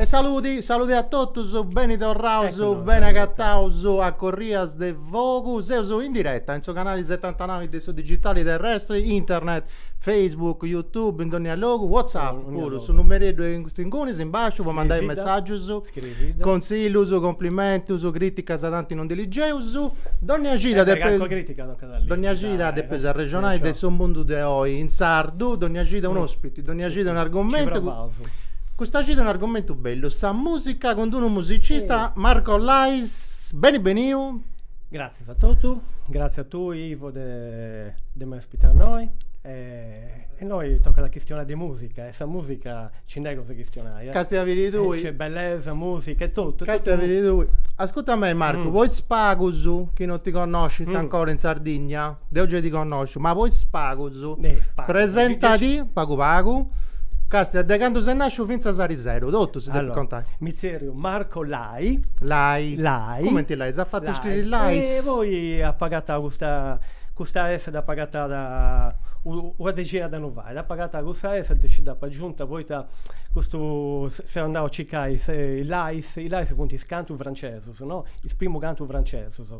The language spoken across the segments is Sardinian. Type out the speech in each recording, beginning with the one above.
E saludi, saludi a totus, beni torraus, beni agataus a Corrias de Fogu, seus in diretta in su canali setantanau de su digitali terrestri, internet, Facebook, YouTube, in dònnia logu, WhatsApp puru, su numereddu est ingunis, in basciu, po mandai messàgius. Contzillus, cumplimentus, crìticas tanti non ndi ligeus. Dònnia cida depeus. Calchi crìtica tocat a li. Dònnia cida depeus arrexonai de su mundu de oi in sardu, dònnia cida un'ospiti, dònnia cida un'argumentu. Nci provaus. Custa cida un'argumentu bellu, sa mùsica cun d-unu musicista, Marco Lais. Beni beniu. Gràtzias a totus, gràtzias a tui Ivo de de m'ai ospitau innoi e. Eh, innoi tocat a chistionai de musica, e sa musica nci nd'at cosa 'e chistionai, eh. Casti a biri tui. Nc'est bellesa, musica e totu. Casti a biri tui. Ascurta mei Marcu, po is pagus chi non ti connoscint ancora in Sardigna, deu giai ti connosciu, ma po is pagus, presentadi pagu pagu, casti a de candu ses nasciu finzas a ariseru, totu si depis contai. Allora, mi zerriu Marco La La Lai? Lai. Lai. Cumenti lai? S'at fatu scriri lai? E poi apo agatau custa custa S dd'apo agatada una dexina d'annus fait, apo agatau cussa S e nci dd'apo agiunta poita custu seu andau a circai is lais, is lais funt is cantus francesus no, is primus cantus francesus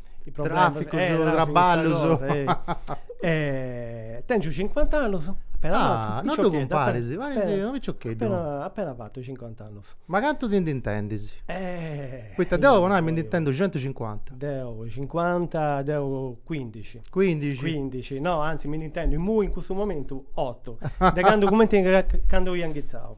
i problemas traficus, eh, traballus eh, tengiu 50 annus Ah, non ddu cumparis, paris unu piccioccheddu. Appena, appena fatu 50 annus. Ma cantu ti ndi intendis? Eh. Poita deu po nai mi ndi intendu 150. Deu 50, deu 15. 15. 15, no, anzi mi ndi intendu immui in custu momentu 8. De candu, cumenti candu ia inghitzau.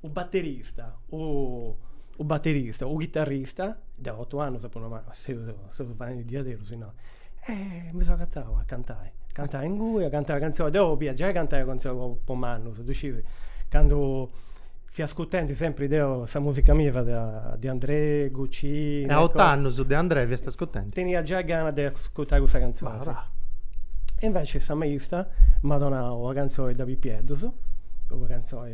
U batterista, u u batterista, u chitarrista, deu otu annus apu nau ma seu seu faendi diaderus innoi. E mi seu agatau a cantai, cantai ingui, a cantai cantzonis, deu bolia giai cantai cantzonis po po mannus, ddu scius, candu fia ascurtendi sempri deu sa musica mia fiat De Andrè, Guccini. E a otu annus De Andrè fiast ascurtendi? Tenia giai gana de ascurtai cussas canzonis. Ma va. E inveci sa maista m'at donau una canzoni de pipieddus, una canzoni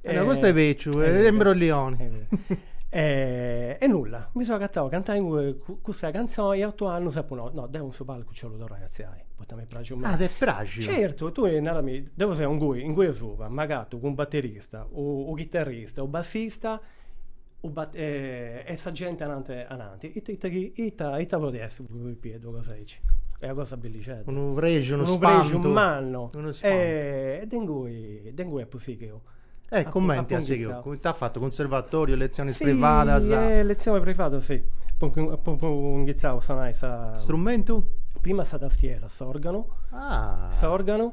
E no, custu est bèciu, est imbroglioni. E e nulla, mi seu agatau a cantai inguni cussa cantzoni e a otu annus apu nau, no, deu in su palcu nci 'ollu torrai a artziai, poita m'est praxiu meda. Ah, t'est praxiu? Certu, tui narami, deu seu ingui, ingui asuba, m'agatu cun u baterista u chitarrista u bassista e sa genti ananti ananti, ita ita chi ita ita podit essi po u pipieddu una cosa aici, est una cosa bellixedda, unu prexu, unu spantu, mannu, e de ingui de ingui apu sighiu. E cumenti as sighiu, ita as fatu, cunservatoriu, lezionis privadas? Si letzioni privada si, apu inghitzau a sonai sa. Strumentu? Prima sa tastiera, s'organu, s'organu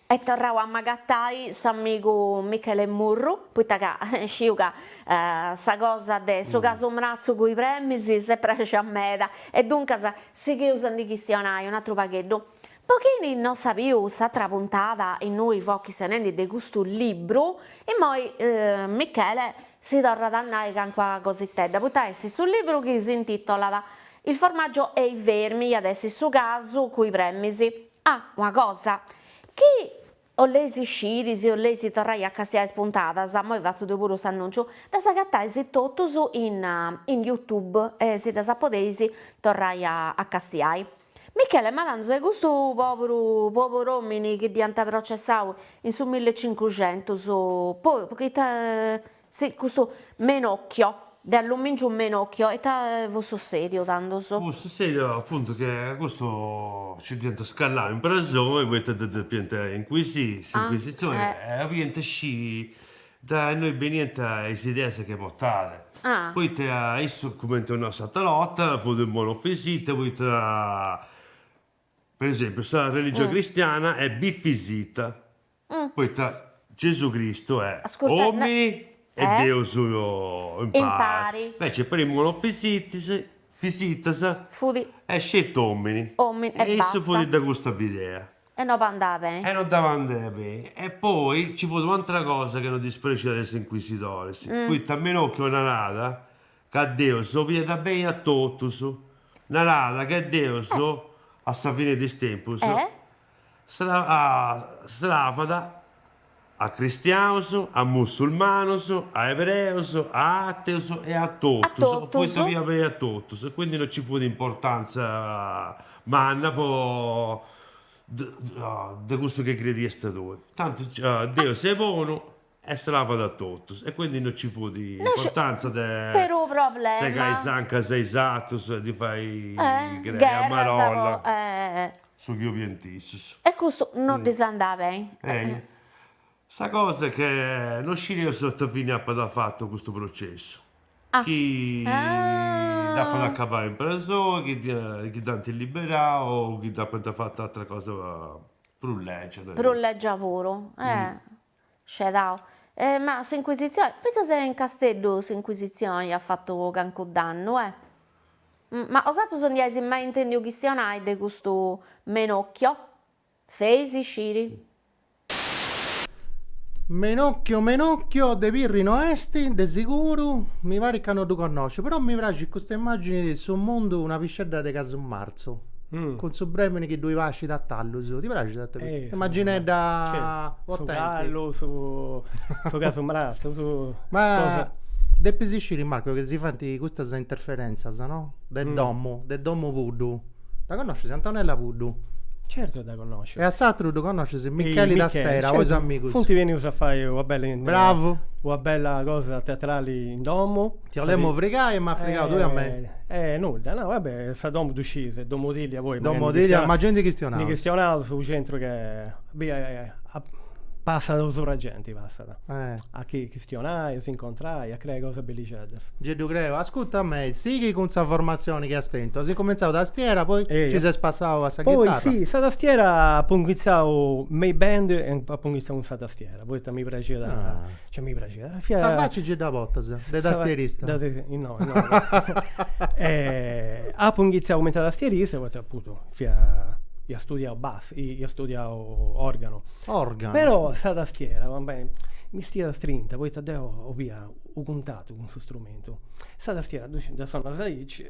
Est torrau a agatai s'amigu Michele Murru, poita sciu ca sa cosa de su casu mratzu cun is bremis s'est praxia meda, e duncas sighius a ndi chistionai un'atru pagheddu. Po chini no at biu s'atra puntada innui fuaus chistionendi de custu libru, immoi Michele si torrat a nai cancua cositedda, poita est su libru chi s'intitolat Il formaggio e i vermi, iat essi su casu cun is bremis. Ah, una cosa, chi 'olleis sciri si 'olleis torrai a castiai is puntadas, moi fatzu deu puru s'annunciu, ddas agatais totus in in youtube e si ddas podeis torrai a a castiai. Michele, ma tandus e custu pòburu pobur'òmini chi dd'iant processau in su millecincuxentus po ita Si, custu Menocchio, de allumìngiu Menocchio, ita fut sussèdiu tandus? Fut sussèdiu apuntu che a custu nci dd'iant cravau in prexoni poita ddu depiant incuisiri s'incuisitzioni e 'oliant sciri da innui beniant is ideas chi portàt, poita issu, cumenti apu nau s'atera 'orta, fut unu monofisita poita Per esempiu, sa religioni cristiana est bifisita, poita Gesù Cristu est omini e Deus impari, inveci po is monofisitas est sceti omini e issu fut de custa bidea e no andàt beni. E poi nci fut u' atera cosa chi no ddis prexiat a is inquisidoris, poita Menocchio narada Ca Deus 'oliat beni a totus. Naràt ca Deus, a sa fine de is tempus, sravat a cristiaus, a mussulmanus, a ebreus, a ateus e a totus, poita 'oliat beni a totus e quindi non nci fut importantza manna po de cussu chi crediast tui. Tanti Deus est bonu E sravat a totus, e quindi no ci fut importanza de segai is ancas a is atrus e di fai crei a marolla, su chi 'oliant issus. E custu no ddis andàt beni. Sa cosa est che no scieus ita fini apat fatu custu processu, chi dd'apat acabada in presoi, chi dd'ant liberau o chi dd'apant fatu atra cosa prus legia. Prus legia puru. Scedau. Ma s'Inquisitzioni, fintzas in Casteddu s'Inquisitzioni at fatu cancu dannu, eh? Ma 'osatrus ndi eis mai intèndiu chistionai de custu Menocchio? Feis sciri. Menocchio de Pirri no est, de siguru, mi parit ca no ddu connosciu, però mi praxit custa immàgini de su mundu una piscedda de casu martzu. mrazzu, mm. cun su bremini chi ddoi pascit a tallus. Ti praxit a te custu? Eh, Immaginedda certo. su callu, su, su casu mrazzu, su... Ma... Cosa... Depis isciri Marco che si fant custas interferenzas, no? De mm. domu, de Domu Puddu. Dda conoscis Antonella Puddu? Certo dda conosciu. E a s'atru ddu conoscis se Michele da Stera, certo. amico. Funti benius a fai una bella, Bravo. una bella cosa teatrale in domu. Ti 'olemu frigai e m'as frigau tui a mei. Eh eh nudda, no va bè, sa domu ddu scis, est Domu Tìllia poi. Domu Tìllia, ma gei ndi chistionaus. Ndi chistionaus u' centru chi passat u' surra genti passat. Eh. A chi chistionai, a si incontrai, a creai cosas bellixeddas. Gei ddu creu, ascuta a mei, sighi cun sa formatzioni chi as tentu, as incumentzau tastiera poi ci ses passau a sa chitarra. Poi si, sa tastiera apu inghitzau me is band e apu inghitzau cun sa tastiera, poita mi praxiat Cioè mi praxit. Fia... Sa facci nci dda potas, de tastierista. Da, no, no. e, apu inghitzau cumenti a tastierista, poita apuntu fia ia studiau bassu, ia studiau organu. Organu. Però sa tastiera, va bè, m'istiat strinta, poita deu 'olia u' cuntatu cun su strumentu. Sa tastiera, dda sonas aici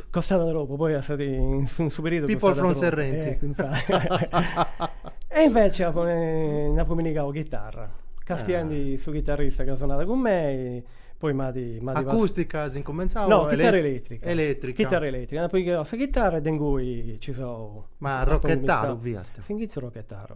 Pop. Costàt tropu, poi at fati in su perìodu costàt tropu. People from Serrenti. E invece apu nd'apu pinnigau chitarra, castiendi su chitarrista chi sonàt cun mei, poi m'at m'at pas. Acustica as incumentzau o. No, chitarra eletrica. Eletrica. Chitarra eletrica, nd'apu pinnigau sa chitarra e de ingui nci seu. Ma arrochetaru fiast. S'inghitzu arrochetaru.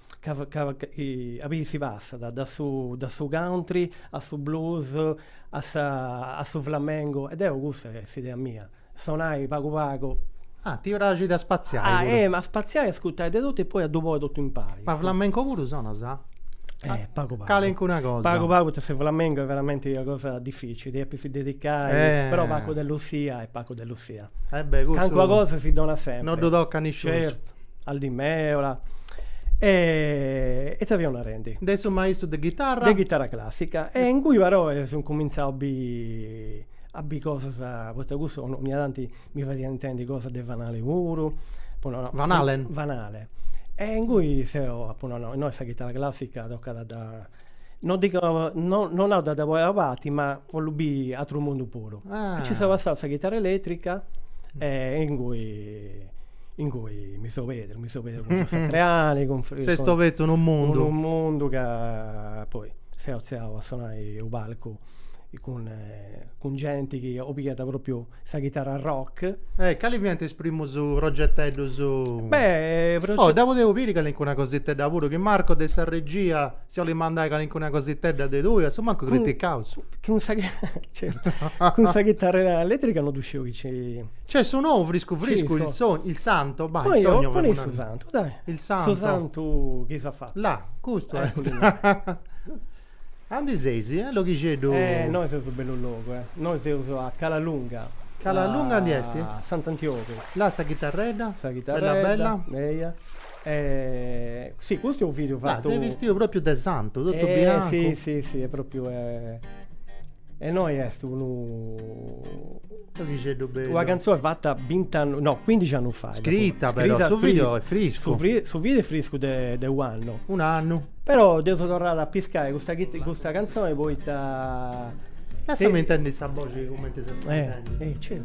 a biri si passat dae su dae su country a su blues a sa a su flamengo e deu cussa est s'idea mia, sonai pagu pagu. Ah, ti praxit a spaziai puru. Ah, eh, ma a spaziai, a ascurtai de totu e poi a ddu poi totu impari. Ma flamenco puru sonas? Eh, pagu pagu. Calincuna cosa. Pagu pagu poita su flamengo est veramenti una cosa dificili, ti depis dedicai, eh, però Paco de Lucia est Paco de Lucia. Eh beh, cussu. Calincuna cosa si donat sempri. No ddu tocat nisciunus. Certu. Al Di Meola e ita fiaus narendi. De su maistu de ghitarra. De chitarra classica e ingui però e seu incumintzau a bi a bi cosas poita cussu onnia tanti mi fadiat intendi cosas de Van Halen puru. Van Halen. Van Halen e ingui seu apu nau no, innoi sa chitarra classica tocat a dda No dico, no, no nau de dda poi a parti, ma 'ollu biri atru mundu puru. Ah. E ci seu passau a sa chitarra eletrica e ingui ingui mi seu pedru, mi seu pedru cun Joe Satriani, cun Fri- S'est cun- obertu unu mundu. unu mundu ca poi seu atziau a sonai u' palcu cun cun genti chi o pigat propriu sa chitarra rock. E cali fiant is primus progeteddus? Beh, proge... Dopo deu devo biri calincuna cositedda puru, chi Marco de sa regia si 'olit mandai calincuna cositedda de tui, a su mancu criticaus. Cun sa, certu, cun sa chitarra eletrica no ddu sciu chi ci... Nc'est su nou friscu friscu, il sogno, il santo, bah, il sogno... Poni, poni su santu, dai. Il santo. Su santu chi s'at fatu. Là, custu est. Andi seis, eh, loghixeddu? Eh, nois seus bellu logu, eh. Nois seus a Cala Lunga. Cala Lunga andi esti? A Sant'Antiogu. Là sa chitarredda? Sa chitarredda. Bella bella? Eia. E, si, custu est u' video fatu. Là, ses bistiu propriu de santu, totu biancu. Eh, si, si, si, est propriu. E innoi est unu pixeddu bellu. Una canzone fatta 20 annus, no, 15 annus fa. Scritta, fu, però, su video è friscu. Su, fri, su video è friscu de, de u'annu. Un annu. Però deu seu torrau a piscai custa, custa canzone poita... Lassami intendi sa boxi cumenti s'intendit. Eh, eh, certu.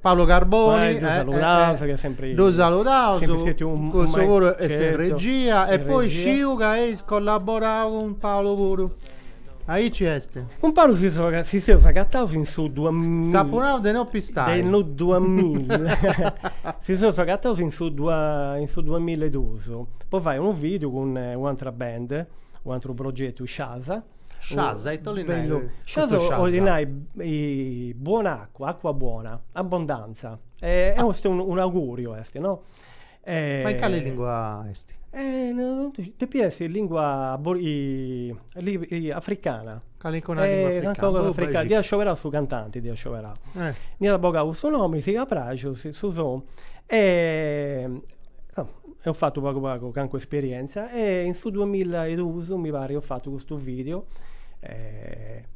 Paolo Carboni ddu saludaus ca sempri ddu saludaus cussu puru est in regia e poi sciu ca eis collaborau cun Paolo puru aici est cun Paolo si si seus agataus in su t'apu nau de no pistai de no si seus agataus in su in su duamilla e dus po fai unu video cun u' atera band u' ateru progetu Sciasa Sciasa ita 'olit nai bellu custu sciasa? 'olit nai buona acqua, acqua buona, abbondanza. E est un auguriu est no. Ma in cali lingua est? Depit essi lingua africana. Calincuna lingua africana. Dd'iat scioberau su cantanti dd'iat scioberau. Nd'iat bogau cussu nomi, sigh'at praxu su sonu Eus fatu pagu pagu cancu esperienza e in su duamilla e dus mi pari eus fatu custu video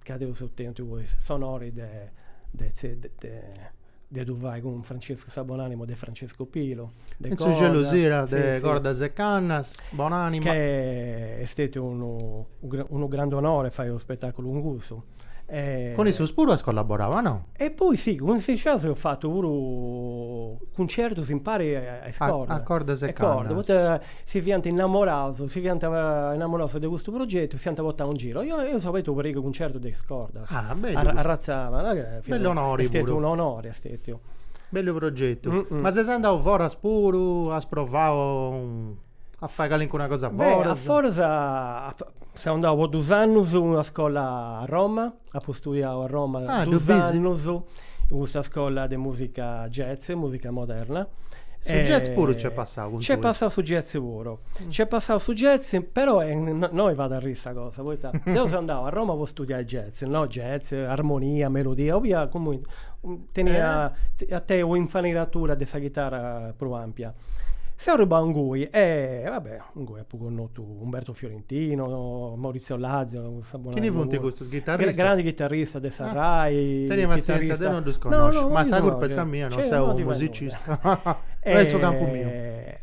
ca deu eus tentu poi s'onori de de de ddu fai cun Francescu sa bonanima de Francescu Pilu de su Gelusira de Cordas e Cannas bonanima ca est stetiu unu unu grandu onori fai unu spetaculu cun cussu Cun issus puru as collaborau a no? E poi si, cun is Sciasa eus fatu puru cuncertus impari a is Cordas. A Cordas e Cannas. Poita si fiant innamoraus, si fiant innamoraus de custu progetu, si ant portau in giru. Oi eus abertu u' parigu 'e cuncertus de is Cordas. Ah, bellu custu. Arratza de. Bellu onori puru. Est stetiu un'onori, est stetiu. Bellu progetu. Ma ses andau foras puru, as provau. A fai calincuna cosa foras? A foras seu andau po dus annus in una scola a Roma, apu studiau a Roma dus annus in custa scola de musica jazz, musica moderna. Su jazz puru nc'est passau cun tui? Nc'est passau su jazz puru. Nc'est passau su jazz, però innoi fait arriri sa cosa, poita deu seu andau a Roma po studiai jazz, no jazz, armonia, melodia, 'olia comunque tenni, a tenni un'infarinatura de sa chitara prus ampia. Seu arribau ingui e va bè, ingui apu connotu Umberto Fiorentino, Maurizio Lazzaro, no sa bona. Chini funt custus? Ghitarristas? Grandi ghitarristas de sa RAI. Teni passienza, deu no ddus connosciu, ma sa curpa est sa mia, no seu u' musicista. No est su campu miu. E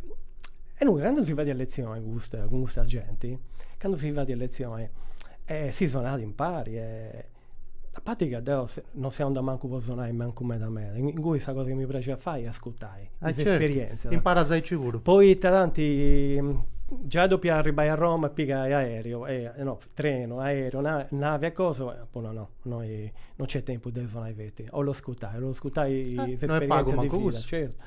ingui candu si fadiat letzioni custa cun custa genti, candu si fadiat letzioni, si sonàt impari e A parti ca deu non seu andau mancu po sonai mancu meda meda, ingui sa cosa chi mi praxit a fai est ascurtai is esperientzias. Imparas aici puru. Poita tanti giai depia arribbai a Roma e pigai aereo, no, trenu, aereo, navi e cosa, apu nau no, innoi non nc'est tempus de sonai feti, 'ollu ascurtai, 'ollu ascurtai is esperientzias de vida. Certu.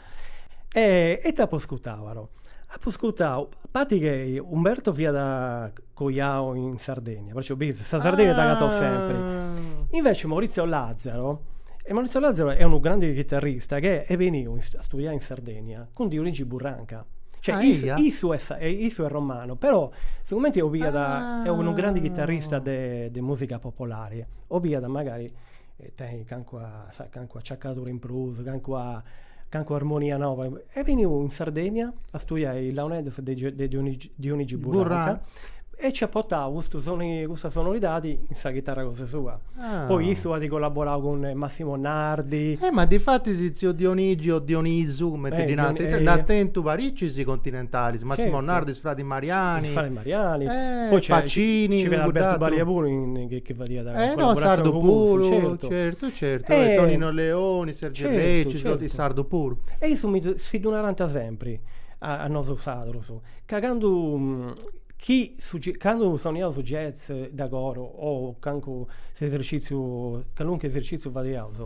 E ita apu ascurtau però. Apo scurtau, a parti che Umberto fiat coiau in Sardegna, perciò bides, sa Sardegna t'agatat sempri. Invece Maurizio Lazzaro, e Maurizio Lazzaro est unu grande chitarrista chi est beniu a studiai in Sardegna cun Dionigi Burranca. Cioè Ah, is- eia? issu est e issu est romanu, però sigumenti 'obiat, est unu grande chitarrista de de musica popolare, 'obiat magari tenni cancuna sa cancuna acciacadura in prus cancuna cancuna armonia noba est benniu in Sardegna a studiai launeddas de de Dionigi Burranca e ci at portau custu soni custa sonoridadi in sa chitarra cosa sua poi issu at collaborau cun Massimo Nardi e ma difatis tziu Dionigi o Dionisu cumenti ddi narant insaras nd'at tentu paricis continentalis Massimo Nardi is fradis Mariani is fradis Mariani e Pacini ci fiat Alberto fadiat eh no sardu puru certu certu certu e Tonino Leoni Sergio Lecis certu is sardu puru e issus si ddu narànt sempri a nosu sadrus ca candu chi su candu soniaus su jazz de coro o cancu s'eserciziu caluncu eserciziu fadiaus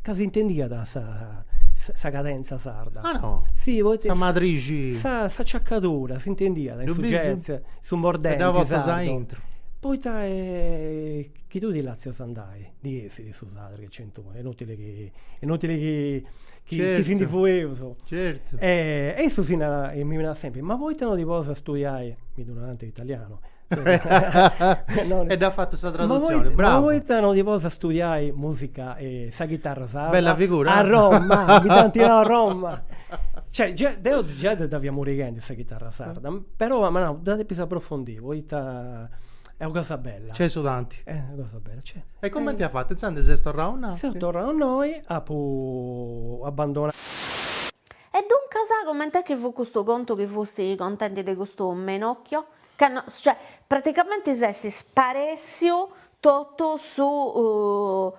ca s'intendiat sa sa cadenza sarda ah no si poita sa madrixi sa s'acciacadura s'intendiat in su jazz su mordenti sardu Poita chi tui ti lassas andai, ndi essit su sardu chi nc'est unu, est inutili chi, est inutili chi chi si ndi fueus. Certu. E e issu si narat, mi narat sempri, ma poita no ti ponis a studiai, mi ddu narant in italianu. E dd'as fatu sa tradutzioni, bravu. Ma poita no ti ponis a studiai musica, sa chitarra sarda. Bella figura. A Roma, mi dd'ant nau a Roma. Cioè, deu già dda fia murighendi sa chitarra sarda, però apu nau, dda depu aprofondì Poita est una cosa bella. Nc'est su tanti. Est una cosa bella, nc'est. E comenti as fatu? Intzandus ses torrau innoi? Seu torrau innoi, apu abandonau. E duncas, coment'est chi fut custu contu chi fusti contendi de custu Menocchio? Candu, cioè, praticamenti s'est sparèssiu totu su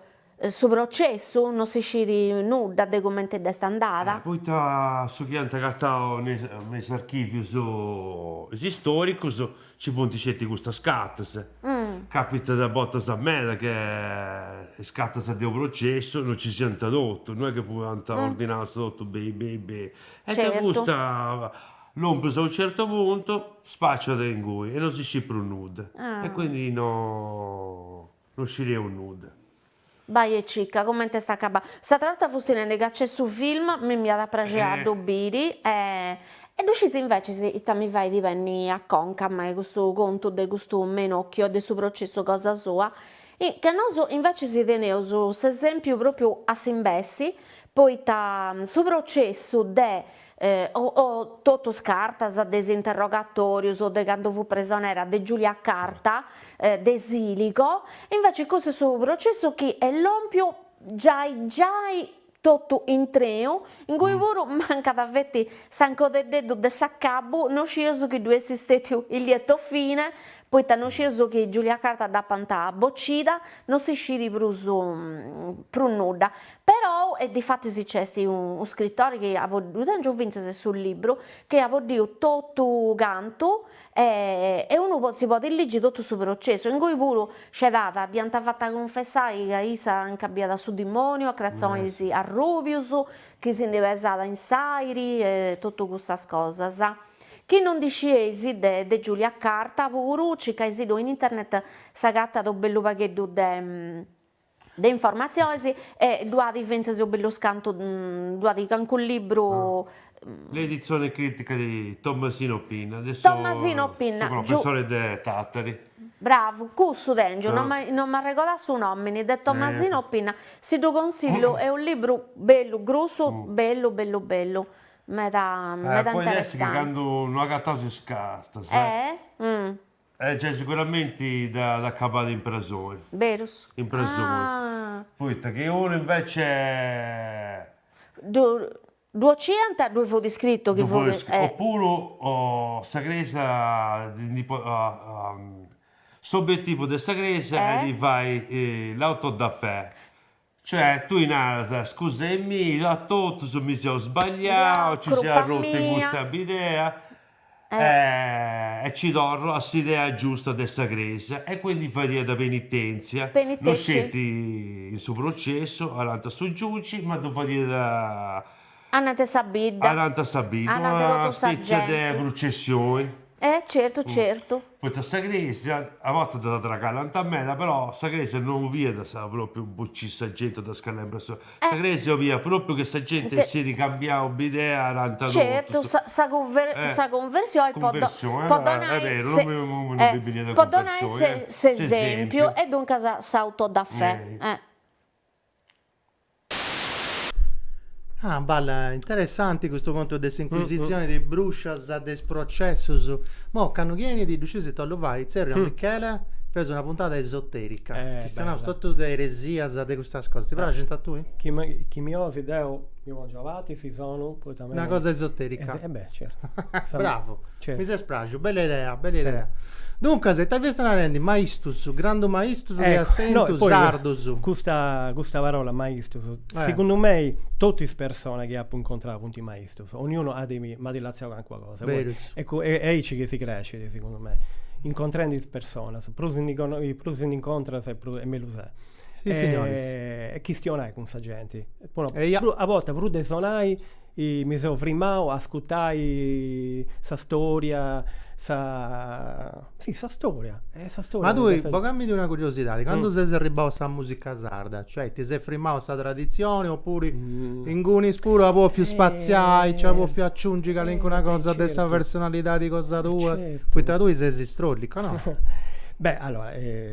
Su processu no si scit nudda de cumenti dd'est andada. Poita su chi ant agatau me is archivius istoricus ci funt sceti custas cartas. Capitat a bortas meda che is cartas de u processu no ci siant totu, no est chi fuant ordinaus totu beni beni beni. E de custa lòmpius a u certu puntu spaciat ingui e no si scit prus nudda. E quindi no. No scideus nudda. Bai e cicca comente est acabau. S'atra 'orta fusti nendi ca nc'est su film, mi iat a praxi a ddu biri e e ddu scis invecis ita mi fait benni a conca a mei custu contu de custu Menocchio e de su processu cosa sua, ca nosu invecis teneus s'esempiu propriu a s'imbessi, poita su processu de o totu is cartas de is interrogatorius o de candu fut presonera de Giulia Carta, de Siligo, inveci cussu est su processu chi est lompiu giai giai totu intreu, ingui puru mancat feti s'ancodeddeddu de s'acabu, no scieus chi ddu est istètiu il lieto fine, poita no scieus chi Giulia Carta dd'apant bocida, no si scit prus prus nudda. Perou e difatis nc'est unu scritori chi at ddu tengiu fintzas su libru, chi at boddiu totu cantu e e unu si podit ligi totu su processu, ingui puru scedada dd'iant fata cunfessai ca issa nca biada su dimoniu a cratzonis arrubius chi si ndi pesada in s'airi e totu cussas cosas. Chi no ndi scieis de de Giulia Carta puru circaisddu in internet s'agattat u bellu pagheddu de de informatziones e ddu at fintzas u bellus cantu ddu at cancunu libru. L'edizione critica di Tommasino Pinna, Tommasino Pinna, de su professore de Tàtari. Bravu, cussu tèngiu, no no m'arregodà su nòmini, de Tommasino Pinna, si ddu consillu, est unu libru bellu, grussu, bellu, bellu, bellu, meda meda interessante. Poi est chi candu no agataus is cartas. Eh giai siguramenti dd'at acabada in presoni. Berus? In presoni. Poita chi unu invece. Ddu 'occiant, ddui fut iscritu chi fut. Ddui fut iscritu, opuru sa Crèsia ndi podit. S'obietivu de sa Crèsia est fai l'auto da fè. Cioè tui naras, scusai-mì a totus mi seu sbagliau, nci seu arrotu in custa bidea e ci torru a s'idea giusta de sa Crèsia. E quindi fadiat penitèntzia, no sceti in su processu, anant'a su giugi, ma ddu fadiat Anant a sa bidda. Anant a sa bidda. Anant totu sa genti. Una spetzia de prucessioni. E certu certu. Poita sa cresia, a bortas dda tragallant meda, però sa cresia no 'oliat propriu bocì sa genti o dda scalembrai, sa. Sa cresia 'oliat propriu chi sa genti essit cambiau bidea anant totus. Certu, sa sa sa conversioni po do po donai s'e- po donai s'e- s'esempiu e duncas s'autodafè. A balla, interessanti custu contu de s'incuisitzioni, de is bruscias, de is processus. Mo candu chi 'enit ddu scis ita 'ollu fai, tzerriu a Michele, feus una puntada esoterica, chistionaus totu de eresias, de custas cosas, ti praxint a tui? Chi mi 'olis deu mi pongiu avatu, si sonu Una cosa esoterica. Es- eh beh, certo. Sa- Bravo, certo. mi ses praxiu, bella idea, bella idea. Duncas, ita fias narendi? Maistus, grandu maistus chi Ecco, est no, tentu, poi sardus. Custa, custa parola maistus, Eh. segundu mei totu is persona chi apu incontrau funt maistus, 'onniunu at mi- m'at lassau calincuna cosa. Poi Berus. e cu- e- aici chi si crescit, segundu mei, incontrendi is personas, prus ndi cono- prus ndi incontras e pru- e mellus est. e, e chistionai cun sa genti. a bortas prus de sonai mi seu frimau a ascutai sa storia, sa si sa storia, e sa storia Ma tui, boga-mindi una curiosidadi, candu ses arribau a sa musica sarda, cioè ti ses frimau a sa tradizioni oppuru ingunis puru as pòfiu spaziai, ci as pòfiu aciungi calincuna cosa de sa personalidadi cosa tua, poita tui ses istrollicu, no? Beh allora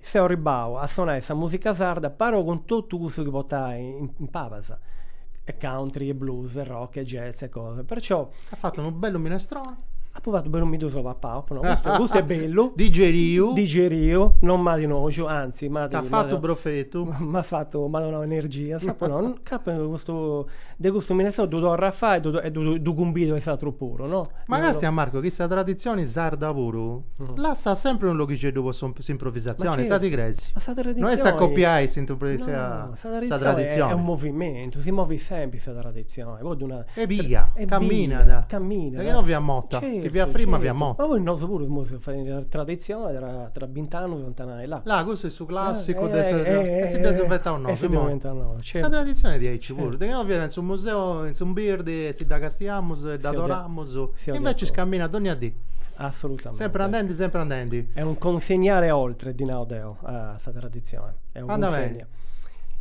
Seu arribau a sonai sa musica sarda però cun totu cussu chi portai in pabas, e country e blues e rock e jazz e cosa, perciò. As fatu unu bellu minestrone. Apu fatu bellu mi ddu seu papau, apu nau custu custu est bellu. Digeriu. Digeriu, non m'at noxu, anzi m'at. T'at fatu profetu. M'at fatu, m'at donau energias, apu nau, ca custu De custu minestroni ddu torru a fai e ddu cumbidu a is atrus puru, no? Ma càstia Marco chi sa traditzioni sarda puru lassat sempri unu loghixeddu po s'improvisatzioni, ita ti creis? Ma sa traditzioni. No est a copiai sa traditzioni. Est unu movimentu, si movit sempri sa traditzioni, po ddu nai. Est bia, caminat. Caminat. De chi no fiat mota, chi fiat frimma fiat mota. Ma poi nosu puru semus traditzioni tra bint'annus ant a nai Là, custu est su clàssicu de sa. E si dd'eus inventau nosu. E si dd'eus inventau nosu, certu. Sa traditzioni est diaici puru, de chi no fiat in su museu, in su mbirdi, e si dda castiamus e dd'adoramus. E invecias caminat dónnia dì. Assolutamente. Sempri andendi, sempri andendi. Est un consegnare oltre, ddi nau deu, a sa traditzioni. Andamenti.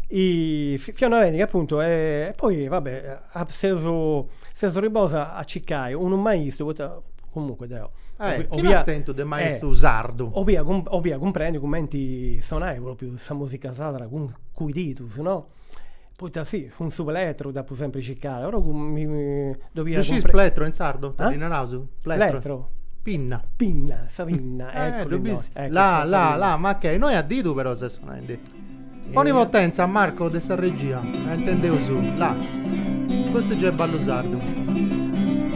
Fiat una rendida, apuntu, e poi, va bè Seus ribosu a circai unu maistu poita comunque deu Chini as tentu de maistu sardu. 'olia cumprendi cumenti sonai propriu sa musica sarda cun is didus no. Poita si cun su plettru dd'apu sempri circada però dd'olia Scit plettru in sardu? Ita ddi naraus? Plettru? Pinna. Pinna, sa pinna. Dd'olis? Là là là ma che innoi a didu però ses sonendi Poni potèntzia Marco de sa regia, intendeus, là. Custu giai ballu sardu.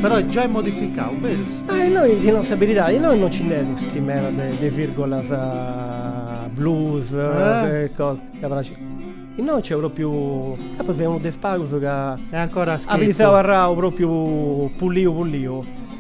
Però est giai modificau, berus? Ah e innoi ti nau sa beridadi, innoi non ci nd'est custi meda de virgolas blues e cosa, ca praxit. Innoi nc'est propriu, ca apu seu unu de is pagus ca. E ancora a scritu. At biziau arrau propriu pulliu pulliu.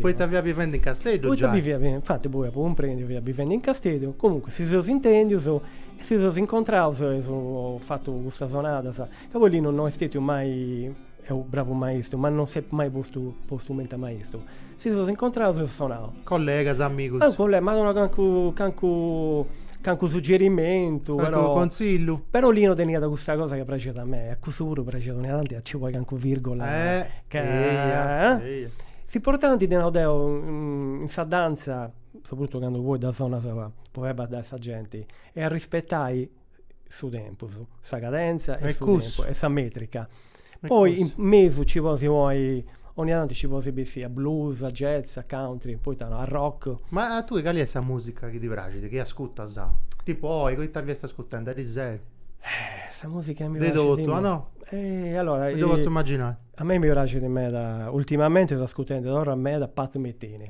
Poita fiat bivendi in Casteddu giai. Poita biviat bivendi, infati poi apu cumprendiu, fiat bivendi in Casteddu, comunque si seus intendius e si seus incontraus eus fatu custas sonadas, ca poi Linu no est stetiu mai, est u' bravu maistu, ma non s'est mai postu postu cumenti a maistu, si seus incontraus eus sonau. Collegas, amigus. Cale, ma cancu cancu Cancu suggerimentu, Cancu però... conzillu. Però Lino teniat custa cosa ca praxiat a mei, a cussu puru praxiat dónnia tanti a ci poi cancu virgola. Eh, ca... eia, eh? eia. S'importanti, ddi nau deu, in sa danza, soprattuttu candu poi dda sonas po fai baddai sa genti, est a rispetai su tempus, sa cadenza e su tempus, e sa metrica. Poi in mesu ci podis poi ogni tantu ci podis bessì a blues, a jazz, a country, poita no, a rock. Ma a tui cali est sa musica chi ti praxit, chi ascutas? Tipu oi, ita fiast ascutende ariseru? Eh, sa musica chi mi praxit. De totu, no? Eh, allora, mi ddu potzu imaginai. A mei mi praxit meda, ultimamente seu ascutende torra meda Pat Metheny.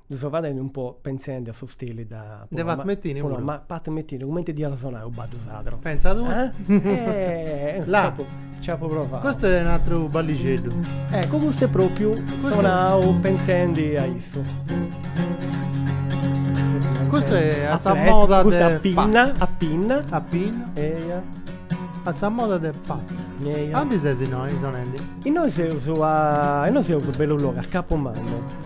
Ddu so fadendi un po' penzendi a su stili de de Pat Metheny puru. Ma Pat Metheny cumenti dd'iat a sonai u baddu sadru? Pentza tui. Eh? La. Nci apu provau. Custu est u' atru ballixeddu. Eccu custu est propriu sonau pentzendi a issu. Custu est a sa moda de Pat. Custu a pinna, a pinna. A pinna. Eia. A sa moda de Pat. Eia. Andi ses innoi sonendi? Innoi seus a, innoi seus bellu logu a Capu Mannu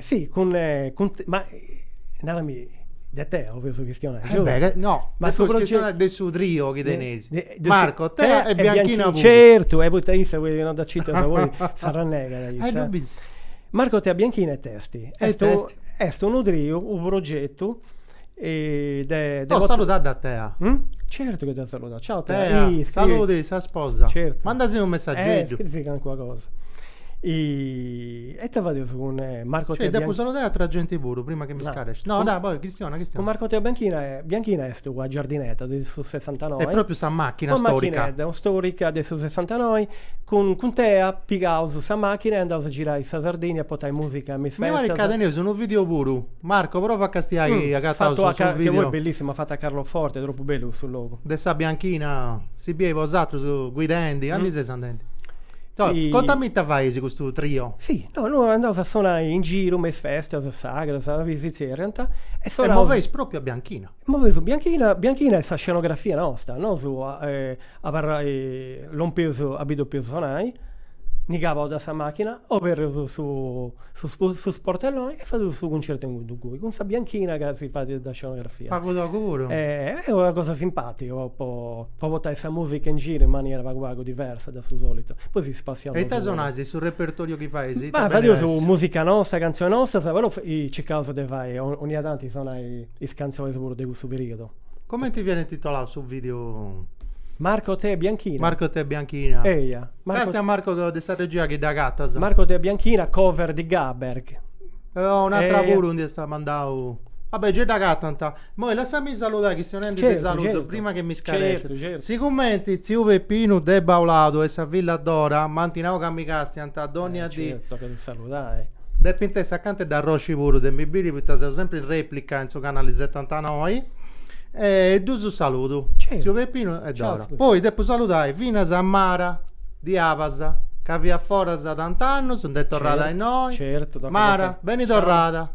si cun ma narami de te o fizu chistionai giustu? E beh no ma su chistionai de su trio chi teneis Marco Tea e Bianchina puru certu e poita issa puru chi non dda citas poi s'arrannegat issa e non bi Marco Tea Bianchina est est est est unu triu u progetu Oh saludadda a Tea. Certu chi dda saludaus. Ciao Tea. Tea, saludi sa sposa. Certu. Mandasi unu messageddu. Scrivi calincuna cosa. E ite fadeus cun Marco Tea Bianchina. Cioè depu saludai atrua genti puru prima chi mi scaresci. No, dai, poi chistiona, chistiona. Cun Marco Tea Bianchina, Bianchina est una giardinedda de su sessantanoi. Est propriu sa machina storica. Una machinedda storica de su sessantanoi. Cun cun Tea pigaus sa machina e andaus a girai sa Sardigna a portai musica me is festas. Mi parit ca teneus unu video puru. Marco prova a castiai agataus su video. Che poi bellissimu fattu a Carloforte, troppu bellu custu logu. De sa bianchina si biei bosatrus guidendi, andi seis andendi? Contami ita faeis custu trio. Si, no no andaus a sonai in giru me is festas sagras, si zerriant, e sonausu. E moveis propriu a bianchina. Moveus a bianchina bianchina est sa scenografia nosta, nosu abarrai lompius abi depius sonai, ndi cabaus de sa machina, oberrius su sportelloni e fadius su cuncertu inguni inguni cun sa bianchina ca si fadiat de scenografia. Pagu togu puru. Est una cosa simpatica po po po portai sa musica in giru in manera pagu pagu diversa de su solitu. Poi si spassiaus. E ita sonais, su repertoriu chi fais ita. Fadius musica nosta, cantzioni nostas, però circaus de fai, 'onnia tanti sonai is cantzionis puru de cussu periodu. Comenti fiat intitoladu su video? Marco Tea Bianchina. Marco Tea Bianchina. Eia. Castia Marco de sa regia chi dd'agatas. Marco Tea Bianchina, cover di Gaber. Oh, un'atra puru ndi est mandau. Va bè, gei dd'agatant. Moi lassami saludai chi seus nendi de saludus prima chi mi scaresciu. Sigumenti tziu Peppinu de Bauladu e sa filla Dora m'ant nau ca mi castiant. Dònnia dì. Nci tocat a saludai. Depint essi acanta de arrosci puru, de mi biri, poita seu sempri in rèplica in su canali setantanoi. E ddus saludu, tziu Pepinu e Dora. Poi depu saludai finas a Mara de Abas, ca fiat foras tant'annus, nd'est torrada a innoi. Mara, beni torrada.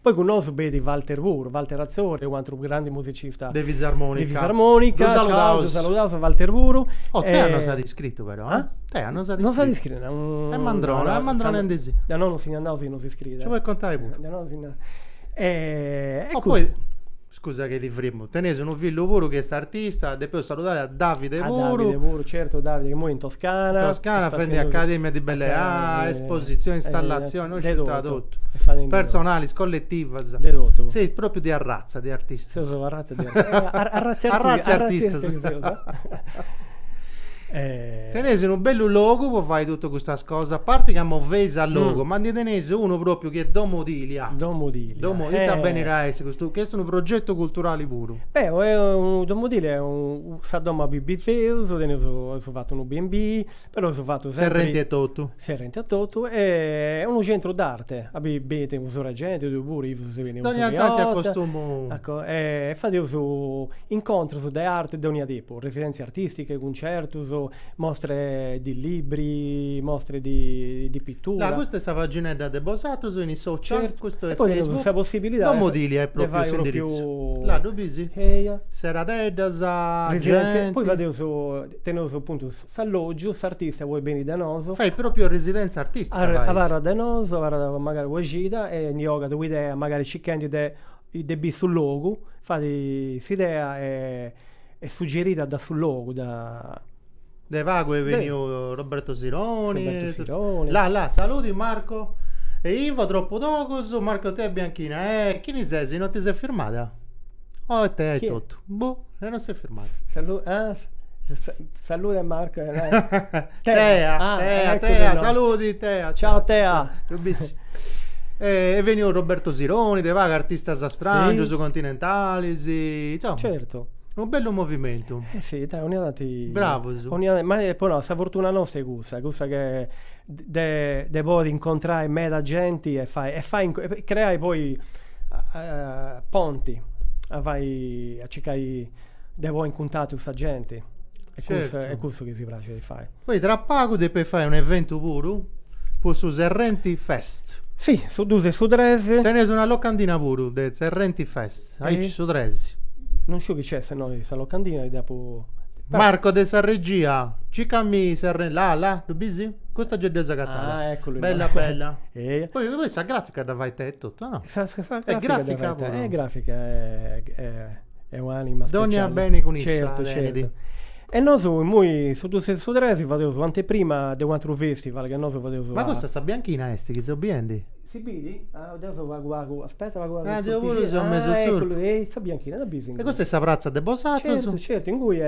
Poi cun nosu b'et Walter puru, Walter Atzori, un'atru grandu musicista de fisarmonica, ddu saludaus, ddu saludaus a Walter puru. Oh Tea no s'at iscritu però eh, Tea no s'at iscritu, no s'at iscritu, est mandrona, mandrona ndi si, de innoi no si ndi andaus chi no s'iscriit, nci podit contai puru, de innoi no si ndi andaus, e cussu. Scusa chi ti frimmu. Teneis unu fillu puru chi est artista, depeus saludai a Davide puru. A Davide puru, certu, Davide, chi immoi est in Toscana. In Toscana fendi academia di belle arti, espositzioni, installatzioni, no sciu ita totu. Personalis, colletivas. De totu. Seis propriu de arratza de artistas. Seus una arratza de artistas. Arratza 'e artistas. Arratza 'e artistas chi seus. Teneis unu bellu logu po fai totu custas cosas, a parti chi si moveis a logu, ma ndi teneis unu propriu Su chi est Domo Dilia. Domo Dilia. Domo Dilia benit a essi custu, chi est unu progetu culturali puru. Beh, Domo Dilia est unu, sa domo abì biveus, teneus aus fatu unu B and B, però aus fatu sempri. Serrenti etotu. Serrenti etotu e est unu centru d'arte, abì benit u' surra 'e genti, tui puru nci ses beniu. Dogna tanti acostumu. Ecco, e fadeus incontrus de arte de dogna tipu. Residenze artistiche, cuncertus, mostre di libri, mostre di pittura. Là, custa est sa paginedda de bosatrus in is social, custu est Facebook, domo Dilia est pròpriu s'indiritzu, là ddu bisi? Eia. Seradeddas, genti. Poi fadeus, teneus apuntu s'allògiu, s'artista podit beni de nosu. Fait pròpriu residèntzia artìstica, fais. Abarrat de nosu, abarrat magari una cida e ndi 'ogat una idea, magari circhendi de de biri su logu, fait s'idea est suggerida da su logu, da. De pagu est beniu Roberto Sironi, la la, saludi Marco, e Ivo tropu togus, Marco Tea Bianchina, e chini ses, non ti ses firmada? Oh est Tea etotu. Boh, e non si è fermato. Salu- ah, sa- sa- salude Marco. eh, Tea, Tea, ah, Tea, ecco che Tea, no. saludi Tea. Ciao Tea. Lu bissi. E e veniu Roberto Sironi, de paga artistas strangios, Sì. continentalis, insomma, Certo. unu bellu movimentu. Eh sì, dai, 'onnia tanti... Bravos. 'onnia- ma eh, po no, sa fortuna nosta est cussa, cussa che de podi incontrai meda genti e fai e fai e creai poi ponti a fai a circai de poi in cuntatu sa genti e custu est cussu chi si praxit a fai. Poi tra pagu depis fai un eventu puru po su Serrenti Fest. Si, su dus e su tres. Teneus una locandina puru de Serrenti Fest. Aici su tres. Non sciu chi nc'est, sinò sa locandina ddi apu... Marco de sa regia, circamì Serre... Là, là, ddu bisi? Custa gei dd'eus agatada. Ah, eccolo. Bella, bella. Eia. Poi, poi sa grafica dda fait Tea etotu, no? Sa, sa, sa grafica, grafica puru. Eh, grafica è un'anima speciale. Dogna beni cun issa, Certu, certu. E nosu immoi su dus e su tres fadeus u' anteprima de u' atru festival chi nosu fadeus... Ma custa sa bianchina est chi seu biendi? Si bidi? Ah, deu seu pagu pagu, aspetta pagu pagu. Ah, deu puru seu mesu tzurpu. Ah, ecculu, est sa bianchina, dda bisi. E custa est sa pratza de bosatrus? Certu, certu, ingui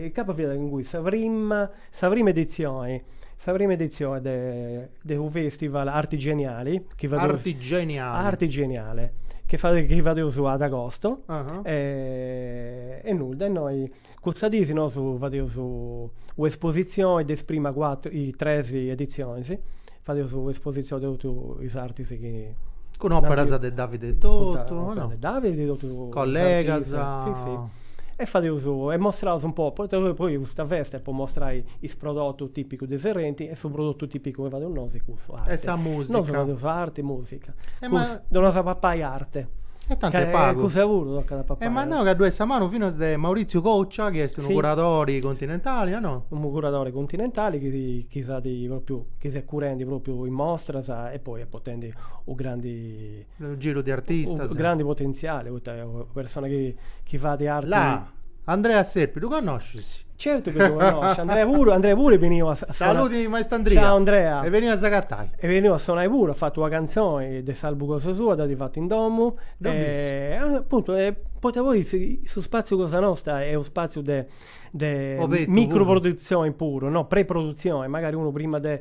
incapas fiat ingui sa prima, sa prima edizioni, sa prima edizioni de de u festival arti geniali, chi fadeus. Arti geniali. Arti geniale, chi fadeus, chi fadeus ad agosto. E nudda, innoi Cussa dì si nosu fadeus u' espositzioni de is primas cuatru, is tres editzionis, fadeus u' espositzioni de totu is artistas chi. Cun operas de Davide totu, no? Operas de Davide e totu is artis. Collegas. Sì sì. E fadeus, e mostraus un po, poita poi poi custa festa est po mostrai is prodotus tipicus de Serrenti e su prodottu tipicu chi fadeus nosu est cussu, arti. E sa musica. Nosu fadeus arti e musica E ma... Cus, donas a papai arte. E tanti est pagu. E cussa puru tocat a papai. E ma nau ca ddoi est sa manu finas de Maurizio Coccia chi est unu curadori continentali, o no? Unu curadori continentali chi chi s'at propriu, chi s'est curendi propriu in mostras e poi est potendi u' grandi. Unu giru de artistas. U' grandi potentziali, poita est una persona chi chi fait arti. Là! Andrea Serpi, ddu connoscis? Certu chi ddu connosciu, Andrea puru, Andrea puru est beniu a sonai. Saludi maestru Andria. Ciao Andrea. Est beniu a s'agatai. Est beniu a sonai puru, at fatu una cantzoni de s'albu cosa sua, dd'at fatu in domu. Deu bissu. Apuntu, poita poi su spaziu cosa nostra est u' spaziu de micro produtzioni puru, no, pre-produtzioni, magari unu prima de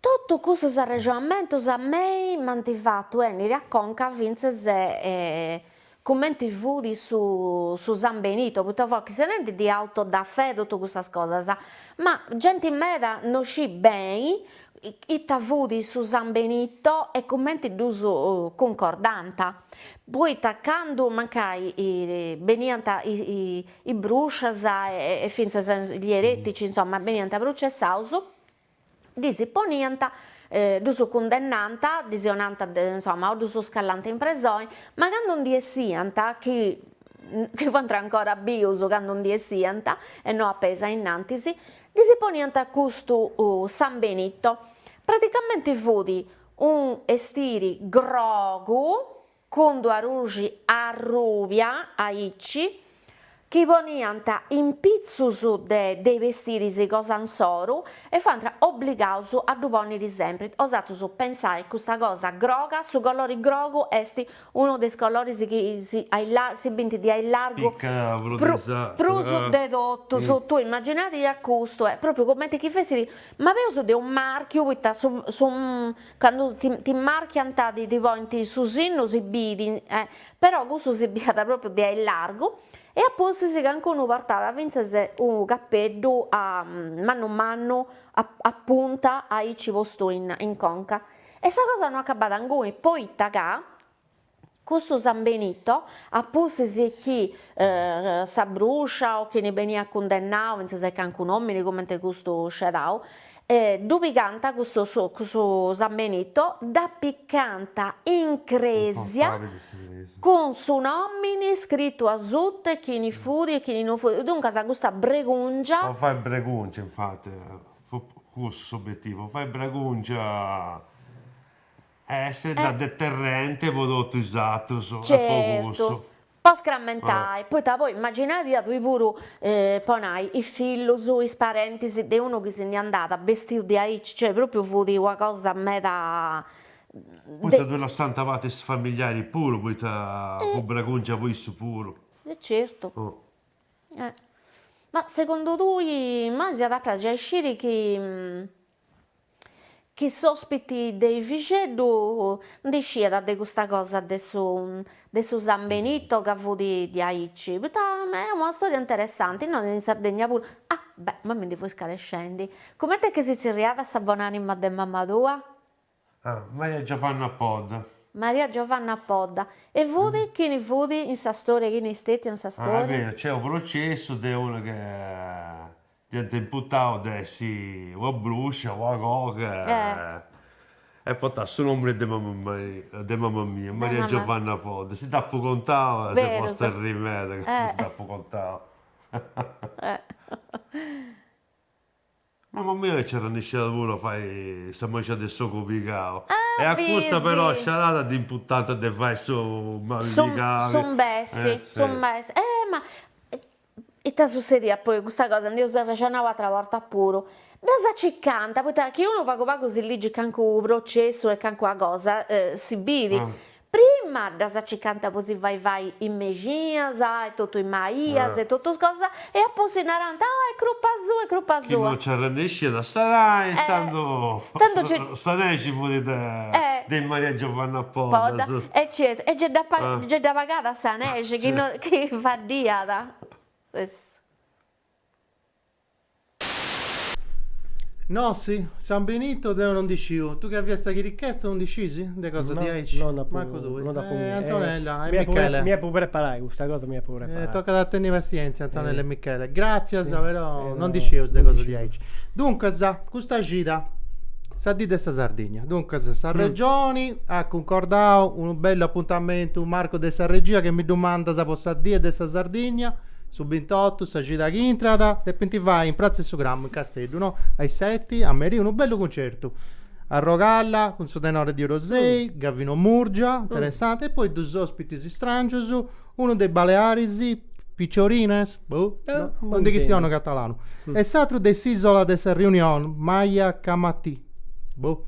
Totu custus arrexonamentus a mei m'ant fatu 'ènniri a conca fintzas cumenti fut su San Benito, poita fueddendi de auto da fé totu cussas cosas, ma genti meda no scit beni ita fut su San Benito e cumenti ddus cuncordànt, poita candu mancai beniant is brùscias e fintzas gli eretici, insomma, beniant prucessaus, ddis poniant, ddus cundennànt, ddis 'onànt, insomma, o ddus scallànt in presoni, ma candu ndi 'essiant, chi chi fuant ancora bius candu ndi 'essiant e no a peis a innantis, ddis poniant custu San Benito, praticamenti fut unu 'estiri grogu, cun d-una ruxi arrubia aici, chi poniant impitzus de is bestiris cosa insoru e fuant obligaus a ddu ponniri sempri, bosatrus pentzai custa cosa groga, su colori grogu est unu de is coloris chi si si bint de a largu prus de totus, tui immaginadì custu est propriu cumenti chi fessit ma peus de unu marchiu poita su su Candu ti marchiant ti ti ponint su sinnu si bit, però custu si biat pròpriu de a largu, e a pustis cancunu portàt fintzas unu capeddu mannu mannu a punta aici postu in conca, e sa cosa no acabàt inguni, poita ca, Custu San Benito, a pustis chi sa bruscia o chini beniat cundennau fintzas de cancunu omini cumenti custu sceadau, ddu pigànt custu San Benito, dd'apicànt in cresia cun su nomini scritu asuta e chini fut e chini no fut, duncas custa bregùngia. Po fai bregùngia infati, fut cussu s'obetivu, po fai bregùngia Essi Eh. da deterrente po totu is atrus e po Certu. cussu. Po scrammentai, poita poi immaginadia tui puru, po nai, is fillus, is parentis de unu chi si ndi andat bestiu diaici, cioè propriu fut una cosa meda Poita ddu lassànt a parti is familiaris puru, poita fut bragungia po issus puru. E certu. Eh. Ma segundu tui, ma si iat a praxi a isciri chi Chi s'ospiti de is Fixeddus ndi sciiat de custa cosa de su de su San Benito ca fut diaici, poita est una storia interessanti, innoi in Sardegna puru, ah beh ma mi ndi fui scarescendi, cumenti est chi si tzirriat sa bon'anima de mama tua? Ah, Maria Giovanna Podda. Maria Giovanna Podda. E fut chini fut in sa storia, chini est stetia in sa storia? Ah, est beru, nc'est unu processu de una chi dd'ant imputau de essi una bruscia, una coga, e portat su nomini de mama mia, Maria Giovanna Podda. Si dd'apu contau s'est posta a arriri meda candu si dd'apu contau. Mama mia nci arrennesciat puru a fai sa mexina de s'ogu pigau e a custa però scedada dd'imputànt de fai su mali pigau. Su mbessi, su mbessi. Eh ma ita sussediat poi custa cosa ndi eus arrexonau ateras bortas puru, ddas acicant, poita chi unu pagu pagu si ligit calincunu processu e calincuna cosa si bit, Prima ddas acicant po si fai fai is mexinas e totu is maias e totus is cosas e a pustis narant, oh est crupa sua, est crupa sua. Chi non nci arrennesciat a sanai intzandus sa nexi fut de is Maria Giovanna Podas. E certu, e gei dda pagàt sa nexi chi faddiat. No, si, San Benito deu no ndi sciu. Tu chi fiast sa chirichedda no ndi scisi? De cosa No, diaici? no nd'apu- Mancu tui. no nd'apu Eh, nì- Antonella eh, e mi depu pre- Michele. Mi depu preparai, custa cosa mi depu Eh, preparai. tocat a tenni passienzia, Antonella e Michele. Gràtzias, però, no ndi scieus de cosa diaici. Duncas, custa cida, sa dì de sa Sardigna. Duncas, s'Arregioni at cuncordau unu bellu apuntamentu, Marco de sa regia, chi mi ddu mandas po sa die de sa Sardigna. Su bintotu sa cida chi intrat depint fai in Pratza 'e su Grammu in Casteddu, no? A is seti, a merì, unu bellu cuncertu. Arrogalla cun su tenore di Orosei, Gavino Murgia, interessante, e poi duus ospitis istràngius, unu de is Balearis, Picciorines, boh, non ddu chistionu catalanu, e s'atru de s'Isola de sa Riunion, Maya Kamaty. Boh.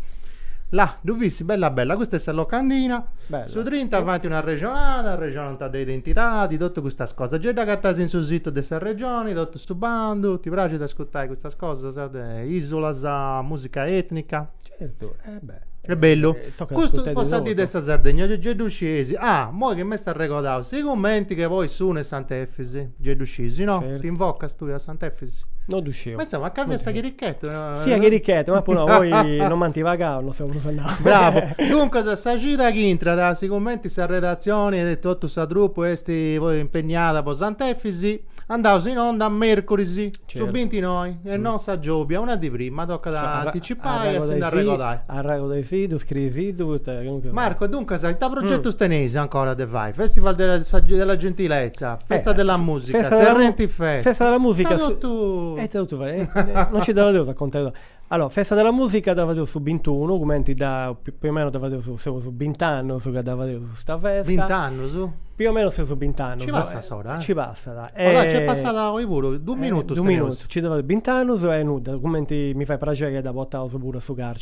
Là depit essi bella bella, custa est sa locandina, Bella. su trinta faint una arrexonada, arrexonant de identidadi, totu custas cosas, gei dd'agatais in su situ de s'Arregioni, totu su bandu, ti praxit a ascurtai custas cosas de isolas, musica etnica? Certu, e beh. Est bellu. Tocat a Custu ascurtai po de sa dì de totu. sa Sardegna, gei gei ddu sciesi, ah moi chi m'est arregordau, sigumenti ca poi su unu est Sant'Efisi, gei ddu sciesi no? Certu. T'invocas tui a Sant'Efisi? No ddu sciu. Ma insomma, a ca fiast chirichetu Fia chirichetu, ma poi no, poi non m'ant pagau, non so prus andau. Bravo. Duncas, sa cida chi intrat, si cumenti sa redatzioni e totu sa trupu est poi impegnada po Sant'Efis, andaus in onda a mercuris, su Certu. bintinoi, e non sa giobia, una dì prima, tocat a anticipai a si nd'arregordai. Arregordaisiddu, scrieisiddu, poita chi nuncas. Marco, duncas, ita progetus teneis ancora de fai? Festival della gentilezza, festa della musica, Serrenti fest. Festa della musica. Ita totu. E ita totu fai Eh, non ci dava deus a contai totu. Allora, festa della musica dava deus su 21, cumenti da più o meno dava deus seus 20 annus ca dava deus sta festa. 20 annus? Più o meno seus 20 annus. Ci passat s'ora, eh? Ci passat. E... Allora, c'è passata oi puru, du minutus. Du minutus, ci dava 20 annus e nudda, cumenti mi fait praxeri a dda botaus puru a su carceri.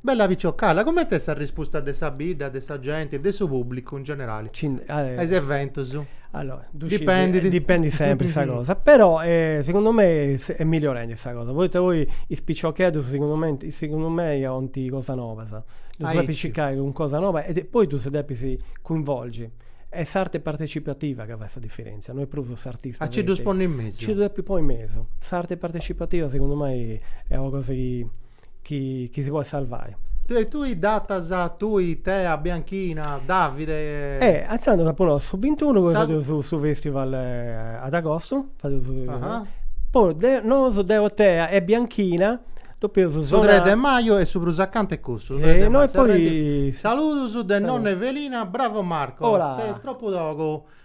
Bella piciocalla, coment'est sa rispusta de sa bidda, de sa genti, de su pubblicu in generali a is eventus? Allora, ddu sciu, Dipendit. dipendit sempri sa cosa, però segundu mei est milliorendi sa cosa, poita poi is piciocheddus segundu mei segundu mei 'olint cosas nobas, ddus Aici. depis circai cun cosa noba e poi ddus depis cuinvolgi, est s'arte partecipativa ca fait sa diferentzia, no est prus s'artista, A nci ddus ponni in mesu. nci ddus depis ponni in mesu, s'arte partecipativa segundu mei est una cosa chi chi chi si podet sarvai. Tue tui datas tui Tea Bianchina Davide. E intzandus apu nau su bintunu poi fadeus su festival ad agostu fadeus poi deo nosu deo Tea e Bianchina dopu eus a sonai. Su tres de maju e su prus acanta est cussu. E no e poi. Saludus de nonna Evelina, bravo Marco ses tropu togu.